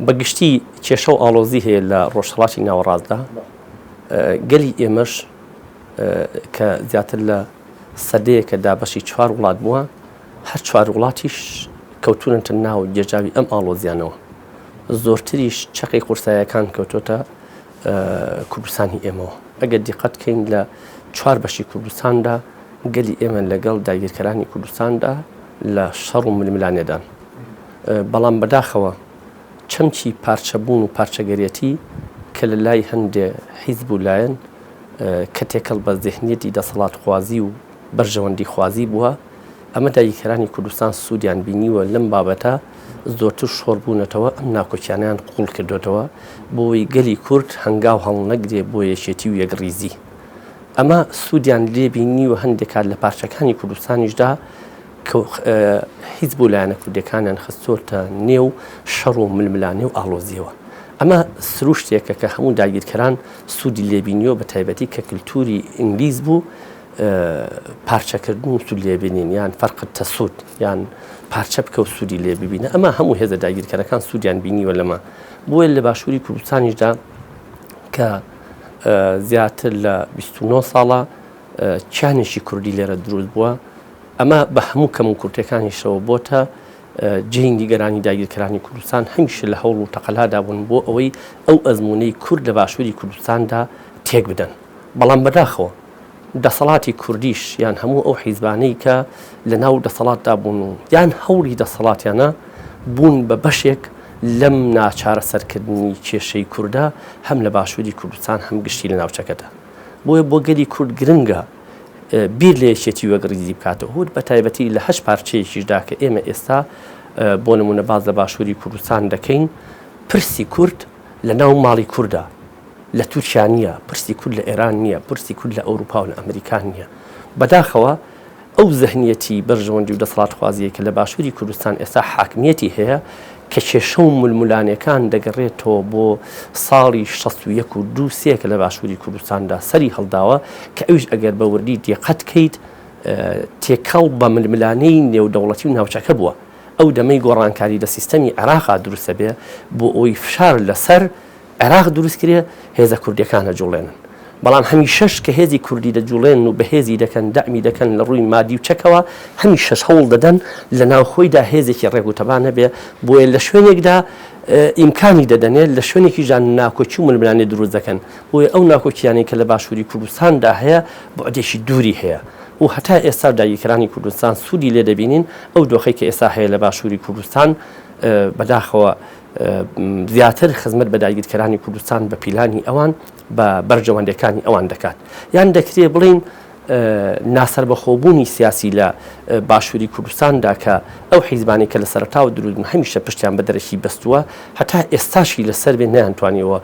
بە گشتی کێشە و ئاڵۆزی هەیە لە ڕۆژهڵاتی ناوەڕاستدا گەلی ئێمەش کە زیاتر لە سەدەیەکە دابەشی چوار وڵات بووە هەر چوار وڵاتیش کەوتونەتە ناو جێژاوی ئەم ئاڵۆزیانەوە زۆرتریش چەقی قورسایەکان کەوتۆتە کوردستانی ئێمەوە ئەگەر دیقەت کەین لە چوار بەشی کوردستاندا گەلی ئێمە لەگەڵ داگیرکەرانی کوردستاندا لە شەڕ و ململانێدان بەڵام بەداخەوە چەمکی پارچەبوون و پارچەگەرێتی کە لە لای هەندێ حیزب و لایەن کە تێکەڵ بە زهنیەتی دەسەڵاتخوازی و بەرژەوەندی خوازی بووە ئەمە دایکەرانی کوردستان سوودیان بینیوە لەم بابەتە زۆرتر شۆڕ بوونەتەوە ئەم ناکۆکیانیان قوڵ کردوێتەوە بۆی گەلی کورد هەنگاو هەڵنەگرێ بۆ یەکێتی و یەکڕیزی ئەمە سوودیان لێبینی و هەندێکات لە پارچەکانی کوردستانیشدا هیچ بۆ لایەنە کوردیەکانیان خستۆتە نێو شەڕ و ململانێ و ئاڵۆزیەوە ئەمە سروشتێکە کە هەموو داگیرکەران سوودی لێبینیەوە بە تایبەتی کە کللتوری ئینگلیس بوو پارچەکردن و سوود لێبینین یان فەرقت تەسوود یان پارچە بکە و سوودی لێ ببینە ئەمە هەموو هێزە داگیرکەرەکان سوودیان بینیوە لەمە بۆیە لە باشووری کوردستانیشدا کە زیاتر لە 29 ساڵە چیانێکی کوردی لێرە دروست بووە ئەمە بە هەموو کەم و کورتەکانیشەوە بۆتە جێی نیگەرانی داگیرکەرانی کوردستان هەمیشە لە هەوڵ و تەقەلادا بوون بۆ ئەوەی ئەو ئەزمونەی کورد لە باشووری کوردستاندا تێک بدەن بەڵام بەداخەوە دەسەڵاتی کوردیش یان هەموو ئەو حیزبانەی کە لە ناو دەسەڵاتدا بوون و یان هەوڵی دەسەڵاتیانە بوون بە بەشێک لەم ناچارە سەرکردنی کێشەی کووردە هەم لە باشووری کوردستان هەم گشتی لە ناوچەکەدا بۆیە بۆ گەلی کورد گرنگە بیر لە یەکێتی وەک ڕیزی بکاتەوە هوت بە تایبەتی لە هەشت پارچەیەکیشدا کە ئێمە ئێستا بۆ نمونە باز لە باشووری کوردستان دەکەین پرسی کورد لە ناو ماڵی کووردا لە تورکیا نییە پرسی کورد لە ئێران نییە پرسی کورد لە ئەوروپا و لە ئەمریکان نییە بەداخەوە ئەو زەهنیەتی بەرژەوەندی و دەسەڵاتخوازیە کە لە باشووری کوردستان ئێستا حاکمیەتی هەیە کە کێشە و ململانێکان دەگەڕێتەوە بۆ ساڵی شەست و یەک و دوو سێ کە لە باشووری کوردستاندا سەری هەڵداوە کە ئەویش ئەگەر بە وردی دێقەت کەیت تێکەڵ بە ململانێی نێودەوڵەتی و ناوچەکە بووە ئەو دەمەی گۆڕانکاری لە سیستەمی عێراقا دروستە بێ بۆ ئەوی فشار لەسەر عێراق دروست کرێ هێزە کوردیەکان ئەجوڵێنن بەڵام هەمی شەش کە هێزی کوردی دەجوڵێن و بەهێزی دەکەن دەعمی دەکەن لە ڕووی مادی و چەکەوە هەمی شەش هەوڵ دەدەن لە ناوخۆیدا هێزێکی ڕێگوتەبان هەبێ بۆیە لە شوێنێکدا ئیمکانی دەدەنێت لە شوێنێکی ژان ناکۆکی و ململانێ دروست دەکەن بۆیە ئەو ناکۆکییانەی کە لە باشووری کوردستاندا هەیە بۆدێکی دووری هەیە و هەتا ئێستا داگیرکرانی کوردستان سوودی لێ دەبینین ئەو دۆخی کە ئێستا هەیە لە باشووری کوردستان بەداخەوە زیاتر خزمەت بە داگیرکەرانی کوردستان بە پیلانی ئەوان بە بەرژەوەندەکانی ئەوان دەکات یان دەکرێ بڵین ناسەربەخۆبوونی سیاسی لە باشووری کوردستاندا کە ئەو حیزبانی کە لە سەرتاوە درودن هەمیشە پشتیان بە دەرەکی بەستووە هەتا ئێستاشی لەسەر بێ نیانتوانیەوە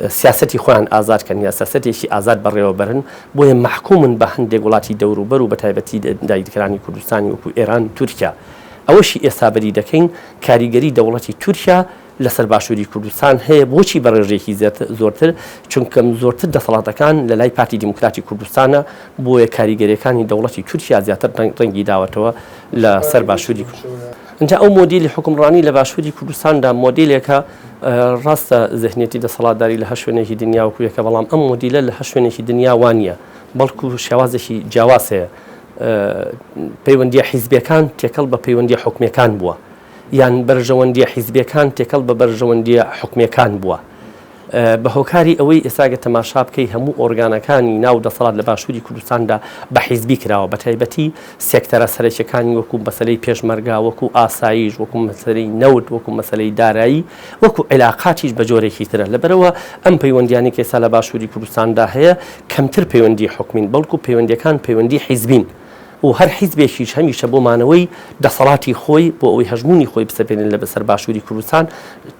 سیاستی خۆیان ئازادکەن یا سیاستێکی ئازاد بەڕێوەبرن بۆیە محکومن بە هەندێک وڵاتی دەوروبەر و بە تایبەتی دایدکرانی کوردستانی وەکو ئێران تورکیا ئەوەشی ئێستا بەری دەکەین، کاریگەری دەوڵەتی تورکیا لەسەر باشووری کوردستان هەیە، بۆچی بە ڕێژەیەکی زۆرتر؟ چونکە زۆرتر دەسەڵاتەکان لە لای پارتی دیموکراتی کوردستانە، بۆیە کاریگەرییەکانی دەوڵەتی تورکیا زیاتر ڕەنگی داوەتەوە لەسەر باشووری کوردستان. جا ئەو مۆدیلی حوکمڕانی لە باشووری کوردستاندا مۆدیلێکە، ڕاستە زهنیەتی دەسەڵاتداری لە هەر شوێنێکی دنیا وەکو یەکە، بەڵام ئەم مۆدیلە لە هەر شوێنێکی دنیا وا نییە، بەڵکو شێوازێکی جیاواز هەیە پەیوەندییە حیزبییەکان تێکەڵ بە پەیوەندییە حکومییەکان بووە یان بەرژەوەندییە حیزبییەکان تێکەڵ بە بەرژەوەندییە حکومییەکان بووە. بە هۆکاری ئەوەی ئێستاگە تەماشا بکەی هەموو ئۆرگانەکانی ناو دەسەڵات لە باشووری کوردستاندا بە حیزبی کراوە بە تایبەتی سێکتەرە سەرەکیەکانی وەکو مەسلەی پێشمەرگا وەکو ئاساییش وەکو مەسلەی نەوت وەکو مەسلەی دارایی وەکو عیلاقاتیش بە جۆرێکی ترە، لەبەرئەوە ئەم پەیوەندیانەی کە ئێستا لە باشووری کوردستاندا هەیە کەمتر پەیوەندی حکومین، بەڵکو پەیوەندیەکان پەیوەندی حیزبین و هەر حیزبێکیش هەمیشە بۆ مانەوەی دەسەڵاتی خۆی، بۆ ئەوەی هەژموونی خۆی بسەپێنێت لە بەسەر باشووری کوردستان،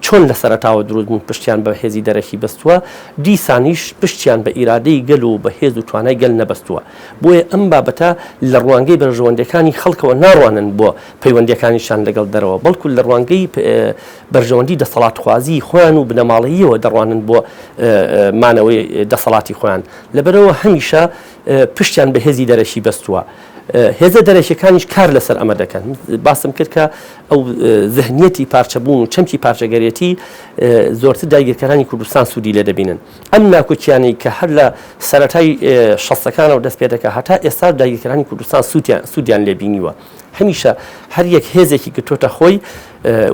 چۆن لە سەرەتاوە دروست بوون پشتیان بە هێزی دەرەکی بەستووە، دیسانیش پشتیان بە ئیرادەی گەل و بە هێز و توانای گەل نەبەستووە. بۆیە ئەم بابەتە لە ڕوانگەی بەرژەوەندیەکانی خەڵکەوە ناڕوانن بۆ. پەیوەندیەکانیشان لەگەڵ دەرەوە، بەڵکو لە ڕوانگەی بەرژەوەندی دەسەڵاتخوازیی خۆیان و بنەماڵەییەوە دەڕوانن بۆ مانەوەی دەسەڵاتی خۆیان، لەبەرئەوە هەمیشە پشتیان بە هێزی دەرەکی بەستووە. هێزە دەرەکیەکانیش کار لەسەر ئەمە دەکەن. باسم کرد کە ئەو زهنیەتی پارچەبوون و چەمکی پارچەگەرێتی زۆرتر داگیرکەرانی کوردستان سوودی لێ دەبینن. ئەم ناکۆکیانەی کە هەر لە سەرەتای شەستەکانەوە دەست پێ دەکا هەتا ئێستاش داگیرکەرانی کوردستان سوودیان لێ بینیوە. هەمیشە هەر یەک هێزێکی گرتۆتە خۆی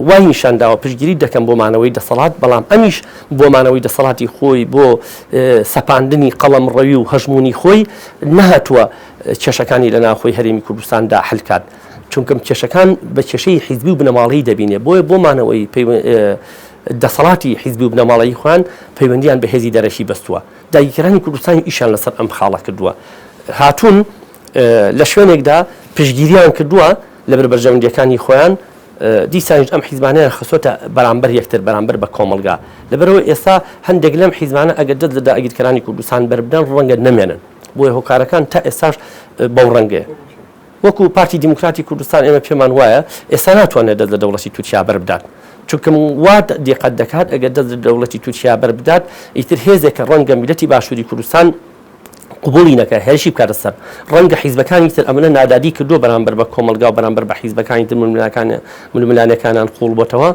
وای نیشان داوە پشگیری دەکەم بۆ مانەوەی دەسەڵات بەڵام ئەمیش بۆ مانەوەی دەسەڵاتی خۆی بۆ سەپاندنی قەڵەم ڕەوی و هەژمونی خۆی نەهاتووە کێشەکانی لە ناوخۆی هەرێمی کوردستاندا حلکات چونکەم کێشەکان بە کێشەی حیزبی و بنەماڵی دەبینێ بۆیە بۆ مانەوەی دەسەڵاتی حیزبی و بنەماڵەی خوان پەیوەندیان بە هێزی دەرەکی بەستووە دایکرانی کوردستانی ئیشان لەسەر ئەم خاڵە کردووە هاتوون لە شوێنێکدا پشتگیریان کردووە لەبەر بەرژەوەندییەکانی خۆیان، دیسانیش ئەم حیزبانەیان خستۆتە بەرامبەر یەکتر، بەرامبەر بە کۆمەڵگا. لەبەرئەوە ئێستا هەندێک لەم حیزبانە ئەگەر دەست لە داگیرکەرانی کوردستان بەربدەن، ڕەنگە نەمێنن. بۆیە هۆکارەکان تا ئێستاش بەو ڕەنگەیە. وەکو پارتی دیموکراتی کوردستان ئێمە پێمان وایە ئێستا ناتوانێت دەست لە دەوڵەتی تورکیا بەربدات. چونکە وا دیقەت دەکات ئەگەر دەست لە دەوڵەتی تورکیا بەربدات، ئیتر هێزێکە ڕەنگە میللەتی باشووری کوردستان، قبوڵی نەکا هێرشی بکاتە سەر. ڕەنگە حیزبەکانی تر ئەمنە نادادی کردووە بەرامبەر بە کۆمەڵگا و بەرامبەر بە حیزبەکانی تر ململانێکانیان ململانێکانان قووڵ بۆتەوە،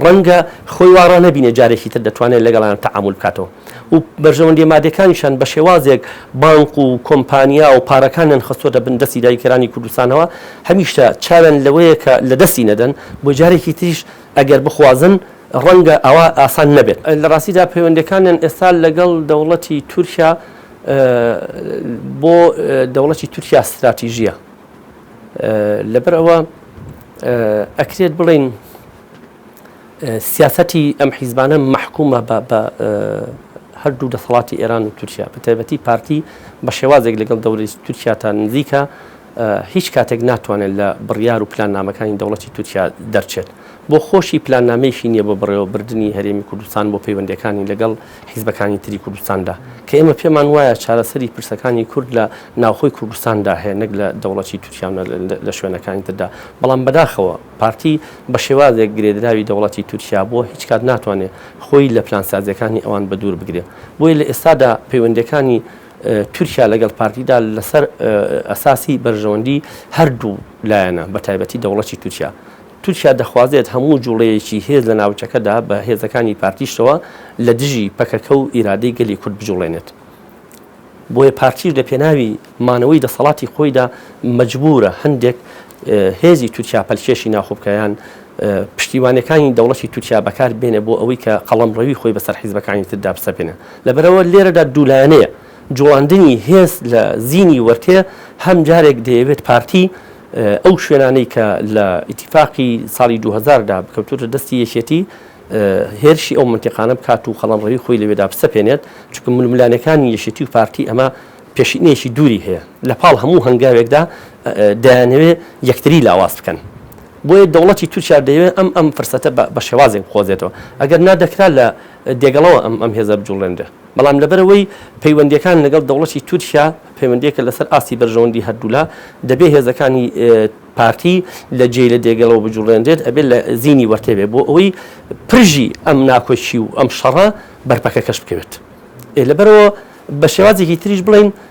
ڕەنگە خۆی وا ڕا نەبینێ جارێکی تر دەتوانێ لەگەڵیان تەعامول بکاتەوە و بەرژەوەندییە مادییەکانیشیان بە شێوازێک بانک و کۆمپانیا و پارەکانیان خستووەتە بن دەستی داگیرکەرانی کوردستانەوە، هەمیشە چاویان لەوەیە کە لەدەستی نەدەن، بۆیە جارێکی تریش ئەگەر بخوازن ڕەنگە ئەوە ئاسان نەبێت. لە ڕاستیدا پەیوەندیەکانیان ئێستا لەگەڵ دەوڵەتی تورکیا بۆ دەوڵەتی تورکیا ستراتیژیە لەبەر ئەوە ئەکرێت بڵین سیاستی ئەم حیزبانە مححکومە بە هەردوو دەسەڵاتی ئێران و تورکیا بەتەبەتی پارتی بە شێوازێک لەگەڵ دەوری تورکیا تا نزیکە هیچ کاتێک ناتوانێت لە بڕیار و پلاننامەکانی دەوڵەتی تورکیا دەرچێت. بۆ خۆشی پلاننامەیەکی نییە بۆ بەڕێوەبردنی هەرێمی کوردستان بۆ پەیوەندییەکانی لەگەڵ حیزبەکانی تری کوردستاندا، کە ئێمە پێمان وایە چارەسەری پرسەکانی کورد لە ناوخۆی کوردستاندا هەیە نەک لە دەوڵەتی تورکیا و نە لە شوێنەکانی تردا. بەڵام بەداخەوە پارتی بە شێوازێک گرێدراوی دەوڵەتی تورکیا بووە هیچ کات ناتوانێت خۆی لە پلانسازییەکانی ئەوان بەدوور بگرێت. بۆیە لە ئێستادا پەیوەندییەکانی تورکیا لەگەڵ پارتیدا لەسەر ئەساسی بەرژەوەندی هەردوو لایەنە بە تایبەتی دەوڵەتی تورکیا تورکیا دەخوازێت هەموو جوڵەیەکی هێز لە ناوچەکەدا بە هێزەکانی پارتیشتەوە لە دژی پەکەکە و ئیرادەی گەلی کورد بجوڵێنێت بۆیە پارتیش لە پێناوی مانەوەی دەسەڵاتی خۆیدا مجبورە هەندێک هێزی تورکیا پەلکێشی ناخۆبکەیان پشتیوانەکانی دەوڵەتی تورکیا بەکار بێنێ بۆ ئەوەی کە قەڵم ڕەوی خۆی بەسەر حیزبەکانی تردا بسەپێنە لەبەرئەوە لێرەدا دوو لایەنەیە، جوڵاندنی هێز لە زینی وەرتێ هەم جارێک دەیەوێت پارتی ئەو شوێنانەی کە لە ئیتیفاقی ساڵی دوو هەزار دا کەوتووەتە دەستی یەکێتی هێرشی ئەو مەنتیقانە بکات و قەڵەمڕەوی خۆی لەوێدا بسەپێنێت، چونکە ململانێکانی یەکێتی و پارتی ئەمە پێشینەیەکی دووری هەیە، لە پاڵ هەموو هەنگاوێکدا دەیانەوێت یەکتری لاواز بکەن، بۆیە دەوڵەتی تورکیا دەیەوێت ئەم ئەم فرسەتە بە شێوازێک بقۆزێتەوە، ئەگەر نا دەکرا لە. دێگەڵەوە ئەم هێزە بجوڵێنرێ، بەڵام لەبەرئەوەی پەیوەندییەکان لەگەڵ دەوڵەتی تورکیا پەیوەندییەکە لەسەر ئاستی بەرژەوەندی هەردوولا، دەبێ هێزەکانی پارتی لە جێی لە دێگەڵەوە بجوڵێنرێت، ئەبێ لە زینی وەرتێ بێ بۆ ئەوەی پرژی ئەم ناکۆکی و ئەم شەڕە بەرپەکەکەش بکەوێت. ئێ لەبەرئەوە بە شێوازێکی تریش بڵێین،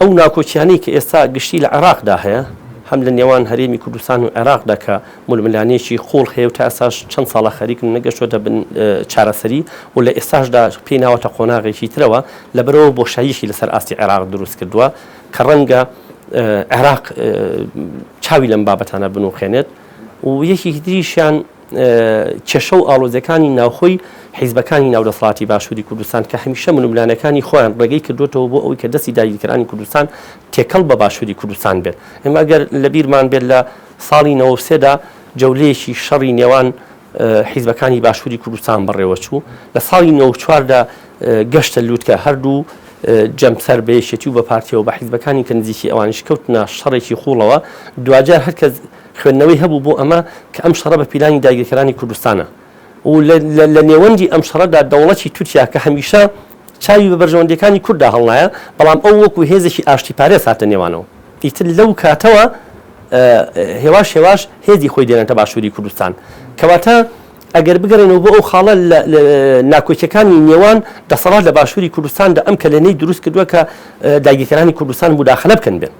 ئەو ناکۆکیانەی کە ئێستا گشتی لە عێراقدا هەیە، هەم لە نێوان هەرێمی کوردستان و عێراقدا کە ململانێیەکی قووڵ هەیە و تا ئێستاش چەند ساڵە خەریکن نەگەشتۆتە بن چارەسەری و لە ئێستاشدا پێی ناوەتە قۆناغێکی ترەوە، لەبەرئەوە بۆشاییەکی لەسەر ئاستی عێراق دروست کردووە کە ڕەنگە عێراق چاوی لەم بابەتانە بنووقێنێت و یەکێکی تریشیان، کێشە و ئاڵۆزیەکانی ناوخۆی حیزبەکانی ناو دەسەڵاتی باشووری کوردستان کە هەمیشە ململانەکانی خۆیان ڕێگەی کردوێتەوە بۆ ئەوی کە دەستی داگیرکەرانی کوردستان تێکەڵ بە باشووری کوردستان بێت ئێمە ئەگەر لە بیرمان بێت لە ساڵی نەوەسێدا جەولەیەکی شەڕی نێوان حیزبەکانی باشووری کوردستان بەڕێوە چوو لە ساڵی نەوەچواردا گەشتە لووتکە هەردوو جەمسەر بەیەکێتی و بە پارتیەوە بە حیزبەکانی کە نزیکی ئەوانش کەوتنە شەڕێکی خوڵەوە دواجار هەرکەس خوێندنەوەی هەبوو بۆ ئەمە کە ئەم شەڕە بە پیلانی داگیرکەرانی کوردستانە و لە نێوەندی ئەم شەڕەدا دەوڵەتی تورکیا کە هەمیشە چاوی بە بەرژەوەندیەکانی کورددا هەڵنایە بەڵام ئەو وەکو هێزێکی ئاشتی پارێز هاتە نێوانەوە ئیتر لەو کاتەوە هێواش هێواش هێزی خۆی دێنێتە باشووری کوردستان کەواتە ئەگەر بگەڕێنەوە بۆ ئەو خاڵە لە ناکۆکیەکانی نێوان دەسەڵات لە باشووری کوردستاندا ئەم کەلێنەی دروست کردووە کە داگیرکەرانی کوردستان مداخلە بکەن بێن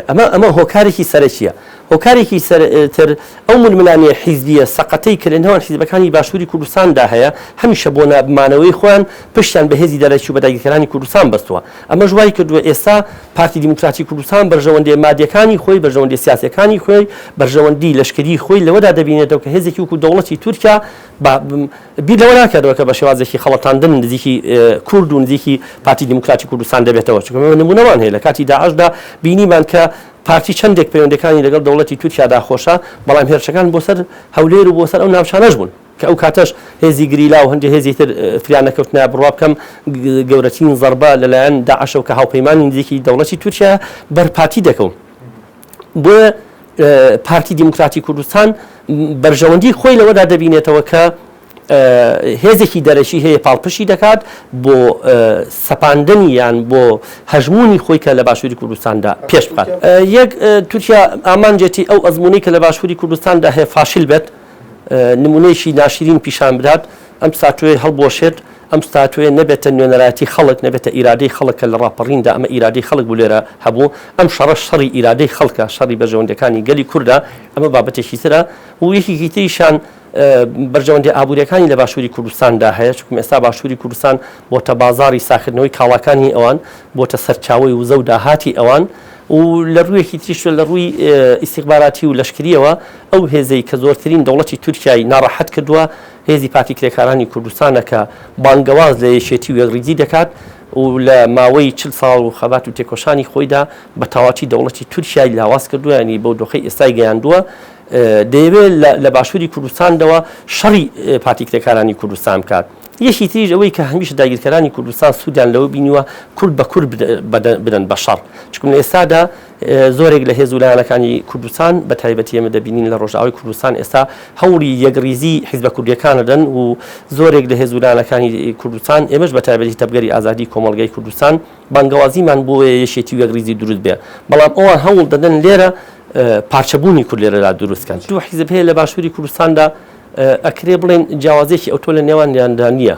ئەمە ئەمە هۆکارێکی سەرەکییە. هۆکارێکی سەر تر ئەو ململانێ حیزبییە سەقەتەی کە لە نێوان حیزبەکانی باشووری کوردستان دا هەیە، هەمیشە بۆ نا مانەوەی خۆیان پشتیان بە هێزی دەرەکی و بە داگیرکەرانی کوردستان بەستووە. ئەمەش وای کردووە ئێستا پارتی دیموکراتی کوردستان بەرژەوەندێ مادییەکانی خۆی، بەرژەوەندێ سیاسییەکانی خۆی، بەرژەوەندی لەشکریی خۆی لەوەدا دەبینێتەوە کە هێزێکی وەکوو دەوڵەتی تورکیا با بیر لەوە ناکەنەوە کە بە شێوازێکی خەڵەتاندن نزیکی کورد و نزیکی پارتی دیموکراتی کوردستان دەبێتەوە، چونکە ئێمە نموونەمان هەیە لە کاتی داعشدا بینیمان کە پارتی چەندێک پەیوەندییەکانی لەگەڵ دەوڵەتی تورکیادا خۆشە، بەڵام هێرشەکان بۆ سەر هەولێر و بۆ سەر ئەو ناوچانەش بوون کە ئەو کاتەش هێزی گریلا و هەندێک هێزی تر فریان نەکەوتنە بڕوا بکەم گەورەترین زەربە لەلایەن داعشەوە کە هاوپەیمانی نزیکی دەوڵەتی تورکیایە بەر پارتی دەکەون. بۆیە پارتی دیموکراتی کوردستان بەرژەوەندی خۆی لەوەدا دەبینێتەوە کە هێزێکی دەرەکی هەیە پاڵپشی دەکات بۆ سەپاندنی یان بۆ هەژمونی خۆی کە لە باشووری کوردستاندا پێش بکات یەک تورکیا ئامانجێتی ئەو ئەزمونەی کە لە باشووری کوردستاندا هەیە فاشل بێت نمونەیەکی ناشرین پیشان بدات ئەم ستاتویەی هەڵبوەشێت، ئەم ستاتویە نەبێتە نوێنەرایەتی خەڵک، نەبێتە ئیرادەی خەڵک کە لە ڕاپەڕیندا ئەمە ئیرادەی خەڵک بوو لێرە هەبوو، ئەم شەڕەش شەڕی ئیرادەی خەڵکە، شەڕی بەرژەوەندیەکانی گەلی کوردە، ئەمە بابەتێکی ترە و یەکێکی تریشیان بەرژەوەندیە ئابوریەکانی لە باشوری کوردستاندا هەیە، چونکم ئێستا باشوری کوردستان بۆتە بازاڕی ساکردنەوەی کاڵاکانی ئەوان، بۆتە سەرچاوەی وزە و داهاتی ئەوان و لە ڕویەکی تریشوە لە ڕوی ئیستیخباراتی و لەشکریەوە ئەو هێزەی کە زۆرترین دەوڵەتی تورکیای ناڕەحەت کردوە، هێزی پاکی کرێکارانی کوردستانە کە بانگەواز لە یەکێتی و یەکڕیزی دەکات و لە ماوەی چل ساڵ و خەبات و تێکۆشانی خۆیدا بە تەواوەتی دەوڵەتی تورکیای لاواز کردووە یانی بەو دۆخەی ئێستای گەیاندووە دەیەوێت لە باشووری کوردستاندەوە شەڕی پارتی کرێکارانی کوردستان بکات یەکی تریش ئەوەی کە هەمیشە داگیرکەرانی کوردستان سوودیان لەوە بینیوە کورد بە کورد بدەن بە شەڕ چکم لە ئێستادا زۆرێک لە هێز و لایەنەکانی کوردستان بە تایبەتی ئێمە دەبینین لە ڕۆژئاوای کوردستان ئێستا هەوڵی یەکڕیزی حیزبە کوردیەکان ئەدەن و زۆرێک لە هێز و لایەنەکانی کوردستان ئێمەش بە تایبەتی تەڤگەری ئازادی کۆمەڵگای کوردستان بانگەوازیمان بۆ یەکێتی و یەکڕیزی دروست بێ بەڵام ئەوان هەوڵ دەدەن لێرە پارچەبوونی کورد لێرەدا دروست کەن دوو حیزب هەیە لە باشووری کوردستاندا ئەکرێ بڵێن جیاوازیەکی ئەوتۆ لە نێوانیاندا نییە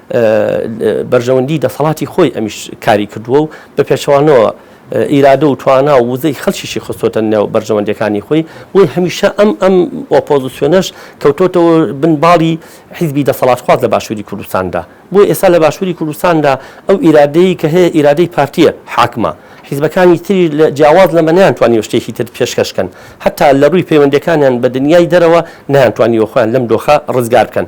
بەرژەوەندی دەسەڵاتی خۆی ئەمیش کاری کردووە و بە پێچەوانەوە ئیرادە و توانا و وزەی خەلکیشی خستۆتە نێو بەرژەوەندەکانی خۆی بۆی هەمیشە ئەم ئەم ئۆپۆزیسیۆنەش کەوتۆتەوە بن باڵی حیزبی دەسەڵاتخواز لە باشووری کوردستاندا بۆی ئێستا لە باشووری کوردستاندا ئەو ئیرادەیە کە هەیە ئیرادەی پارتیە حاکمە حیزبەکانی تری لە جیاواز لەمە نیانتوانیوە شتێکی تر پێشکەشکەن هەتا لە ڕووی پەیوەندەکانیان بە دنیای دەرەوە نیانتوانیوە خۆیان لەم دۆخە ڕزگار بکەن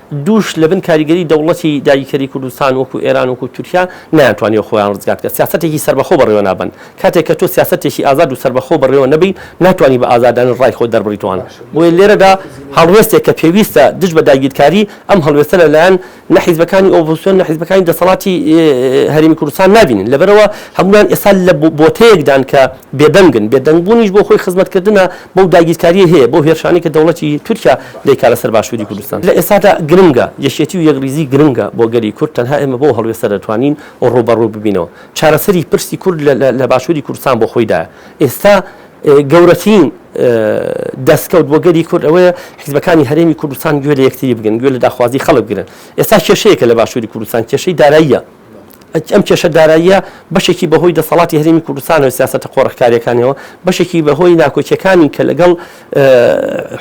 دووش لەبن کاریگەری دەوڵەتی داگیکەری کوردستان وەکو ئێران وەکو تورکیا نەیانتوانیوە خۆیان ڕزگار بکەن سیاسەتێکی سەربەخۆ بەڕێوە نابەن کاتێک کە تۆ سیاسەتێکی ئازاد و سەربەخۆ بەڕێوە نەبەی ناتوانی بە ئازادانە ڕای خۆت دەربڕیتوان بۆیە لێرەدا هەڵوێستێک کە پێویستە دژ بە داگیرکاری ئەم هەڵوێستە لەلایەن نە حیزبەکانی ئۆپۆزسیۆن نە حیزبەکانی دەسەڵاتی هەرێمی کوردستان نابینن لەبەرئەوە هەمووان ئێستا لە بۆتەیەکدان کە بێدەنگن، بێدەنگبوونیش بۆ خۆی خزمەتکردنە بەو داگیرکاریەی هەیە، بەو هێرشانەی کە دەوڵەتی تورکیا دەیکات لەسەر باشووری کوردستان. لە ئێستادا گرنگە، یەکێتی و یەکڕیزی گرنگە بۆ گەلی کورد، تەنها ئێمە بەو هەڵوێستە دەتوانین ڕووبەڕوو ببینەوە. چارەسەری پرسی کورد لە باشووری کوردستان بۆ خۆیدایە. ئێستا گەورەترین دەستکەوت بۆ گەلی کورد ئەوەیە حیزبەکانی هەرێمی کوردستان گوێ لە یەکتری بگرن، گوێ لە داخوازی خەڵک بگرن. ئێستا کێشەیەکە لە باشووری کوردستان، کێشەی داراییە. ئەم کێشە داراییە بەشێکی بەهۆی دەسەڵاتی هەرێمی کوردستانەوە سیاسەتە قۆرخکاریەکانەوە بەشێکی بەهۆی ناکۆکیەکانی کە لەگەڵ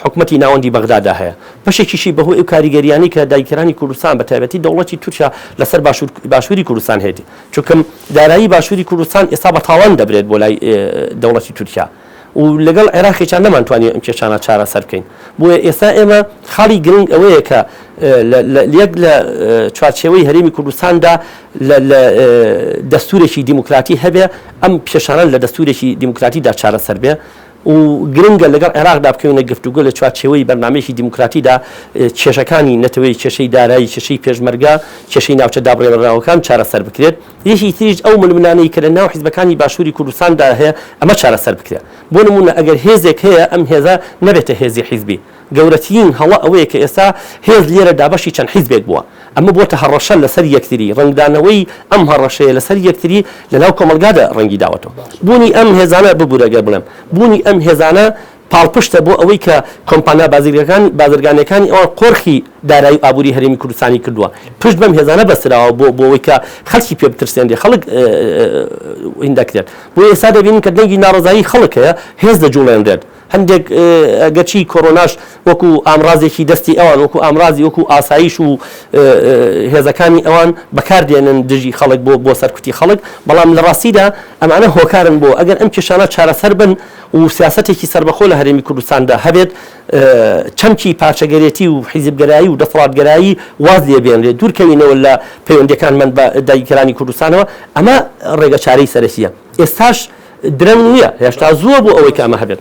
حکوومەتتی ناوەندی بەغدادا هەیە بەشێکیشی بەهۆی ئەو کاریگەریانی کە دایکرانی کوردستان بە تایبەتی دەوڵەتی تورکیا لەسەر باشووری کوردستان هێتی چونکەم دارایی باشووری کوردستان ئێستا بە تاوان دەبرێت بۆ لای دەوڵەتی تورکیا و لەگەڵ عێراقیشا نەمانتوانی ئەم کێشانە چارەسەر بکەین. بۆیە ئێستا ئێمە خاڵی گرنگ ئەوەیە کە یەک لە چوارچێوەی هەرێمی کوردستاندا دەستوورێکی دیموکراتی هەبێ، ئەم کێشانە لە دەستوورێکی دیموکراتیدا چارەسەر بێ و گرنگە لەگەڵ عێراقدا بکەوینە گفتوگۆ لە چوارچێوەی بەرنامەیەکی دیموکراتیدا کێشەکانی نەتەوەی، کێشەی دارایی، کێشەی پێشمەرگە، کێشەی ناوچە دابڕێوراوەکان چارەسەر بکرێت. یەکی تریش ئەو ململانێی کە لە ناو حیزبەکانی باشووری کوردستان دا هەیە ئەمە چارەسەر بکرێ. بۆ نموونە ئەگەر هێزێک هەیە ئەم هێزە نەبێتە هێزی حیزبی. گەورەتیین هەڵە ئەوەیە کە ئێستا هێز لێرە دابەشی چەند حیزبێک بووە. ئەمە بۆتە هەڕەشە لە سەر یەکتری. ڕەنگدانەوەی ئەم هەڕەشەیە لە سەر یەکتری لە ناو کۆمەڵگادا ڕەنگی داوەتەوە. بوونی ئەم هێزانە ببورە گەر بڵێم بوونی ئەم هێزانە پاڵپشتە بۆ ئەوەی کە کۆمپانیا بازرگەکان بازرگانیەکانی ئەوان قۆرخی دارایی و ئابوری هەرێمی کوردستانی کردوە پشت بەم هێزانە بەستراوە بۆ بۆ ئەوەی کە خەلکی پێ بترسێنرێ خەڵک ین دەکرێت بۆ ئێستا دەبینین کە دەنگی ناڕەزایی خەڵک هەیە هێز دەجوڵێنرێت هەندێک گەرچی کۆرۆناش وەکو ئامڕازێکی دەستی ئەوان وەکو ئامڕازی وەکو ئاسایش و هێزەکانی ئەوان بەکاردێنن دژی خەڵک بۆ بۆ سەرکوتی خەڵک بەڵام لە ڕاستیدا ئەمانە هۆکارن بۆ ئەگەر ئەم کێشانە چارەسەر بن و سیاسەتێکی سەربەخۆ لە هەرێمی کوردستاندا هەبێت، چەمکی پارچەگەرێتی و حیزبگەرایی و دەسەڵاتگەرایی واز لێ بێنرێت، دوورکەوینەوە لە پەیوەندییەکانمان بە داگیرکەرانی کوردستانەوە، ئەمە ڕێگەچارەی سەرەکییە. ئێستاش درەنگ نییە، هێشتا زووە بۆ ئەوەی کە ئەمە هەبێت.